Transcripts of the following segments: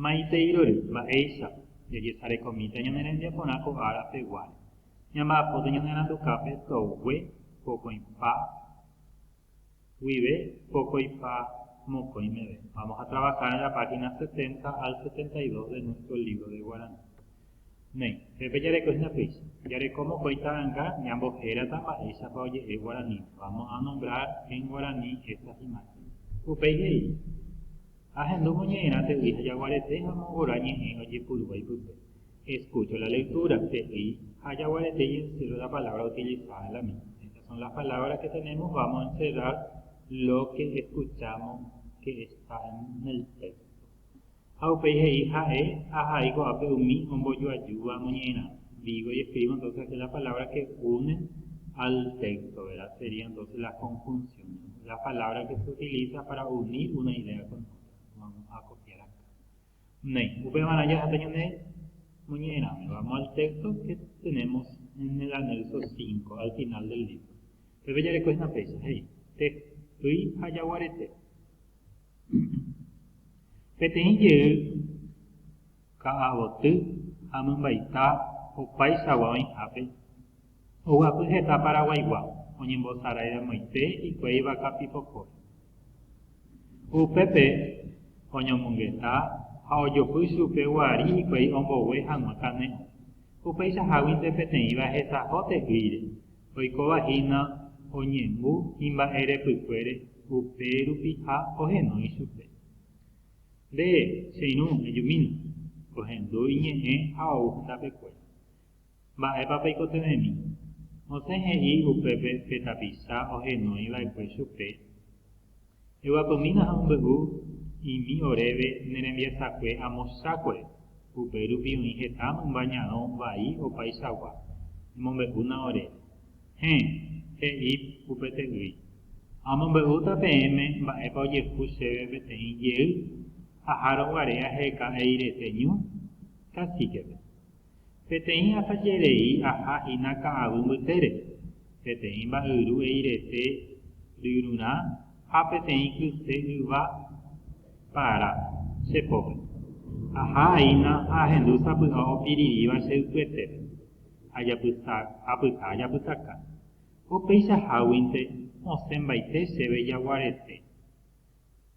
Maiteirory mba'éicha jajesarekomíta ñane rembiaporã ko ára peguáre, ñamba'apóta ñane randukápe togue pokõipa guive pokõipa mokõi meve. Vamos a trabajar en la página 70 al 72 de nuestro libro de guaraní. Néi, pepe jarekohína péicha. Jareko mokõi ta'ãnga ñambohérata mba'éichapa oje'e guarani, vamos a nombrar en guarani estas imágenes. Upéi he'i, Ahendu moñe'ẽrã te'ýi ha jaguarete ha mongora ñe'ẽ ojepurúva ipype. Escucho la lectura, te'ýi ha jaguarete y encierro la palabra utilizada en la misma. Estas son las palabras que tenemos, vamos a encerrar lo que escuchamos que está en el texto. Ha upéi he'i ha'e, Ahai ko'ápe umi ombojoajúva amoñe'ẽrã. Digo y escribo entonces aquí las palabras que unen al texto, ¿verdad? Sería entonces las conjunciones, las palabras que se utilizan para unir una idea con otra. Vamos a copiar acá. Néi, upémarã jaháta ñane moñe'ẽrãme. Vamos al texto que tenemos en el anexo 5, al final del libro. Pepe jarekói una fecha, he'i, Tejy ha jaguarete. Peteĩ jey ka'avoty ha mymbaita opaichagua oĩhápe, oguapy heta Paraguaigua oñembosaraidamoite hikuái vaka pipokóre. Upépe oñomongeta ha ojopy chupe guari hikuái ombogue hag̃ua kane'õ, upeichaháguinte peteĩva hesaho te'ýire Oikóva hína oñembu imba'e repykuére upe rupi ha ohenói ichupe. Nde, che irũ, ejumína, ohendu iñe'ẽ ha ou hetapekuéra. Mba'épa peikotevẽmi? Mosẽ he'i upépe pe tapicha ohenói va'ekue chupe, Eguapymína ha ombe'u imi oréve ne rembiasakue amo chákue, upérupi oĩ heta mymba ñarõ vai opaichagua, emombe'úna ore. Héẽ, he'i upe te'ýi, Amombe'úta peẽme mba'épa ojehu chéve peteĩ jey, aháro guare aheka'eirete ñu kasíkepe. Peteĩ asajerei aha hína ka'aguy mbytére, peteĩ mba'yru eirete ryrurã ha peteĩ kyse yva para che pópe. Aha aína ha ahendu sapy'a opirirĩva che ypyetépe, ajapysa, apyta ajapysaka. Ko péicha háguinte osẽmbaite chéve jaguarete,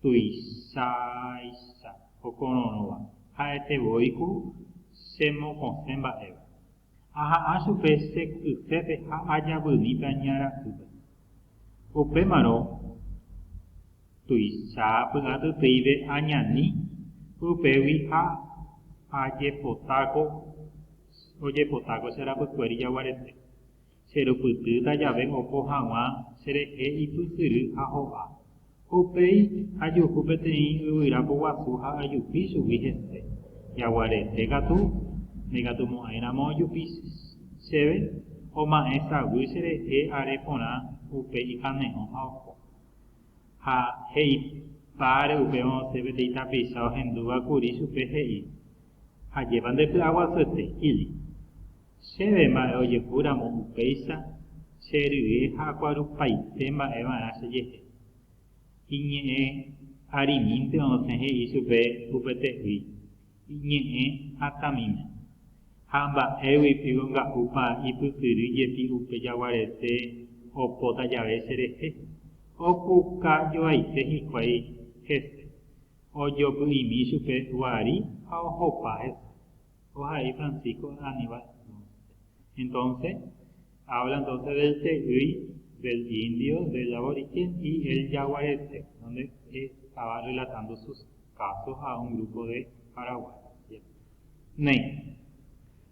tuichaicha okororõva, ha'ete voi ku che mokõse mba'éva. Aha'ã chupe che kysépe ha ajavymíta ña ra'ýpe. Upémarõ tuicha py'atytýive añani upégui ha ajepotáko ojepotáko che rapykuéri jaguarete. Cherupytýta jave oho hag̃ua cherehe ipysyry ha ho'a. Ko upéi ajuhu peteĩ yvyra poguasu ha ajupi chugui hese. Jaguarete katu, ndaikatumo'ãiramo ojupi chéve, oma'ẽ saguy cherehe are porã upe ikane'õ ha oho. Ha he'ipa are upéva osẽ peteĩ tapicha ohendúva kuri chupe he'i, Ajépa nde py'aguasuete, Kili. Chéve mba'e ojehu ramo upéicha che rye ha akuarupaite mba'e va'erã che jehe. Iñe'ẽ arimínte osẽ he'i chupe upete'ỹi, iñe'ẽ hatãmíme. Ha mba'égui piko nga'úpa ipytyry jepi upe jaguarete opóta jave che rehe, opuka joaite hikuái hese, ojopy'imi chupe guari ha ohopa hese. Ko ha he'i Francisco Aníbal Dunsté. Entonce, habla entonces del te'ýi, del indio, del aborigen y el yaguareté, donde estaba relatando sus casos a un grupo de paraguayos. Néi,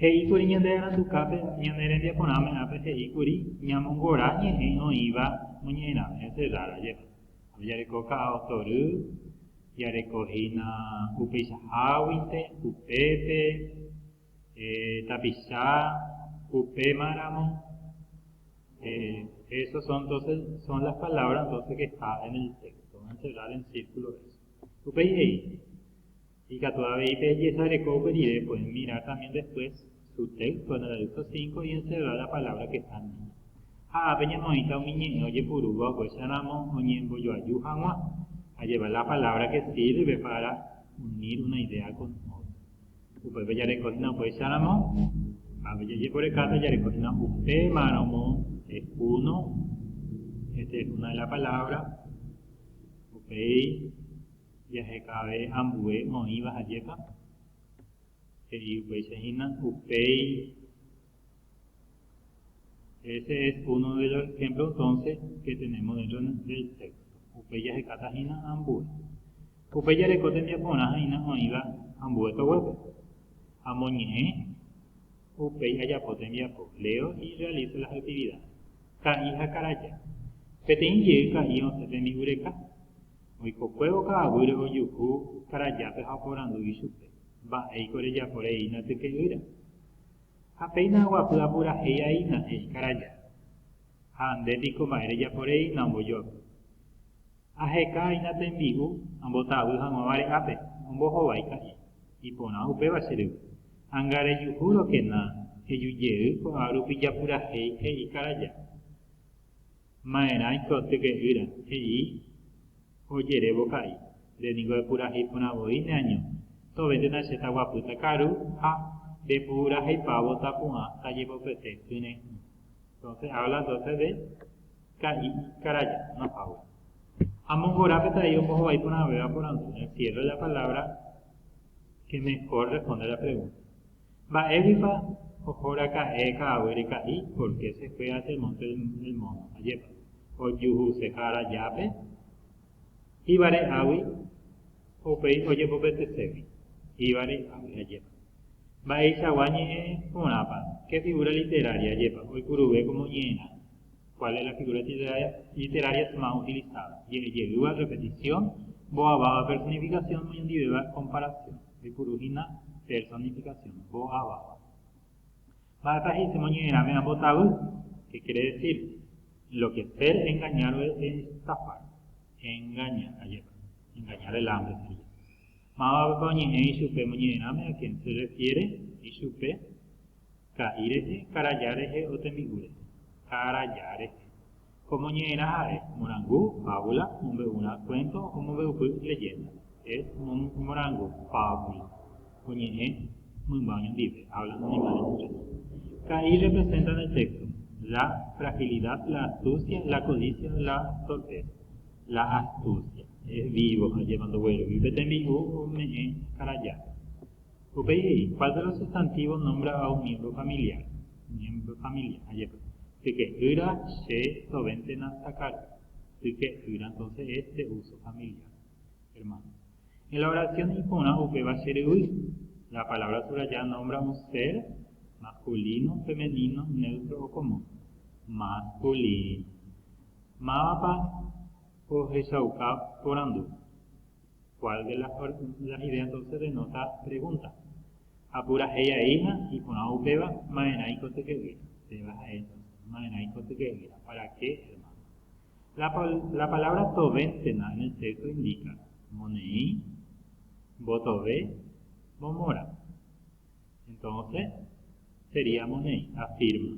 he'i kuri ñande arandukápe, ñane rembiaporãme ápe he'i kuri ñamongora ñe'ẽ oĩva moñe'ẽrãme, encerrar, ajépa. Ojareko ka'a otory, jareko hína upeichaháguinte, upépe, tapicha, upémaramo, eso son entonces, son las palabras entonces que está en el texto, vamos a encerrar en círculo eso. Upéi he'i, Ikatu avei pejesareko upe rire, pueden mirar también después su texto en el aviso 5 y encerrar la palabra que está en ella. Ha ápe ñamoĩta umi ñe'ẽ ojepurúva oguecheramo oñembojoaju hag̃ua, a llevar la palabra que sirve para unir una idea con otra. Upépe jareko hína oguecheramo, ápe jajeporekáta jareko hína upémarõmo es uno, esta es una de la palabra, upéi jahekave ambue oĩva hajépa? He'i upéicha hína upéi Ese es uno de los ejemplos entonces que tenemos dentro del texto. Upéi jahekáta hína ambue. Upéi jareko tembiaporã ha'ina oĩva ambue toguépe. Amoñe'ẽ, upéi ajapo tembiapo, leo y realizo las actividades. Ka'i ha karaja. Peteĩ jey ka'i osẽ tembi'u reka, Oikokuévo ka'aguýre ojuhu karajápe ha oporandu ichupe, Mba'éiko rejapo reína tyke'ýra? Ha péina aguapy apurahéi aína, he'i karaja. Ha nde piko mba'e rejapo reína ombojoapy? Aheka aína tembi'u ambotavy hag̃ua vare'ápe, ombohovái ka'i. Iporã upéva che ryvy. Anga rejuhúrokena, ejujey ko'árupi japurahéi, he'i karaja. Ma'erãiko tyke'ýra, he'i ojerévo ka'i, nde niko epurahéi porã voi neaño, tovéntena che taguapýta karu ha ndepuraheipávo tapu'ã tajepopete kyre'ỹ. Entonces habla entonces de ka'i ikaraja, no fábula. Ha mongora peteĩ ombohovái porãvéva porandu, encierro de la palabra que mejor responde la pregunta. Mba'éguipa oho raka'e ka'aguy reka'i por qué se fue a Sermonte del Mono? Ajépa, ojuhuse Jára Jápe Jíva re'águi upéi ojepopeteségui Jíva re'águi. Ajépa, mba'eichagua ñe'ẽ porãpa, qué figura literaria? Ajépa, oipuruve como ñe'ẽrã, cuál es la figura literaria más utilizada? Je'e jeýva, repetición, mbo'aváva, personificación, moñondivéva, comparación. Oipuru hína personificación, mbo'áva. Mba'épa he'ise moñe'ẽrãme ambotavy? Qué quiere decir? En lo que ser engañado es estafar, engañar, ajépa, engañar delante sería. Mávapepa oñe'ẽ ichupe moñe'ẽrãme a quién se refiere ichupe, ka'i rehe, karaja rehe o tembi'u rehe. Karaja rehe. Ko moñe'ẽrã ha'e, morangu, fábula, mombe'urã, kuénto, omombe'upy, lehénda. Es, morangu, fábula, oñe'ẽ mymba oñondive, habla un animal en muchas. Ka'i representa en el texto, la fragilidad, la astucia, la codicia, la torpeza. La astucia, es vivo, ajépa ndoguerovi upe tembi'u ome'ẽ karajápe. Upéi he'i, ¿cuál de los sustantivos nombra a un miembro familiar? Miembro familiar, ajépa. Tyke'ýra Che novéntena takagua tyke'ýra Entonces es de uso familiar, hermanos. En la oración iporã upéva che ryvy, La palabra subrayada nombra un ser, masculino, femenino, neutro o común. Masculino. Mávapa ohechauka porandu? Kuál de las ideas entonces denota pregunta. Ha purahéi aíha iporã upéva maerã ikotyke'ýira. Péva ha'e entonces, maerã ikotyke'ýira, para qué hermano. La, la palabra tovéntena en el texto indica, moneĩ, mbotove, momora. Entonces, sería moneĩ, afirma.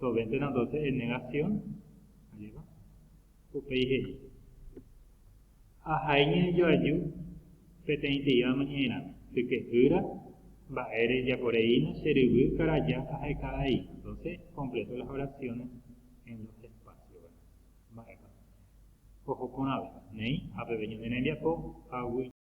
Sovéntena entonces en negación, aréva, upéi he'i, Ahai ñanejoaju peteĩteíva amaña'erãme, sykehýra, mba'e rejaporeína che ryvy karaja aheka avei. Entonces completo las oraciones en los espacios, ¿verdad? Mba'épa? Oho porãve, néi ha peve ñande rembiapo ha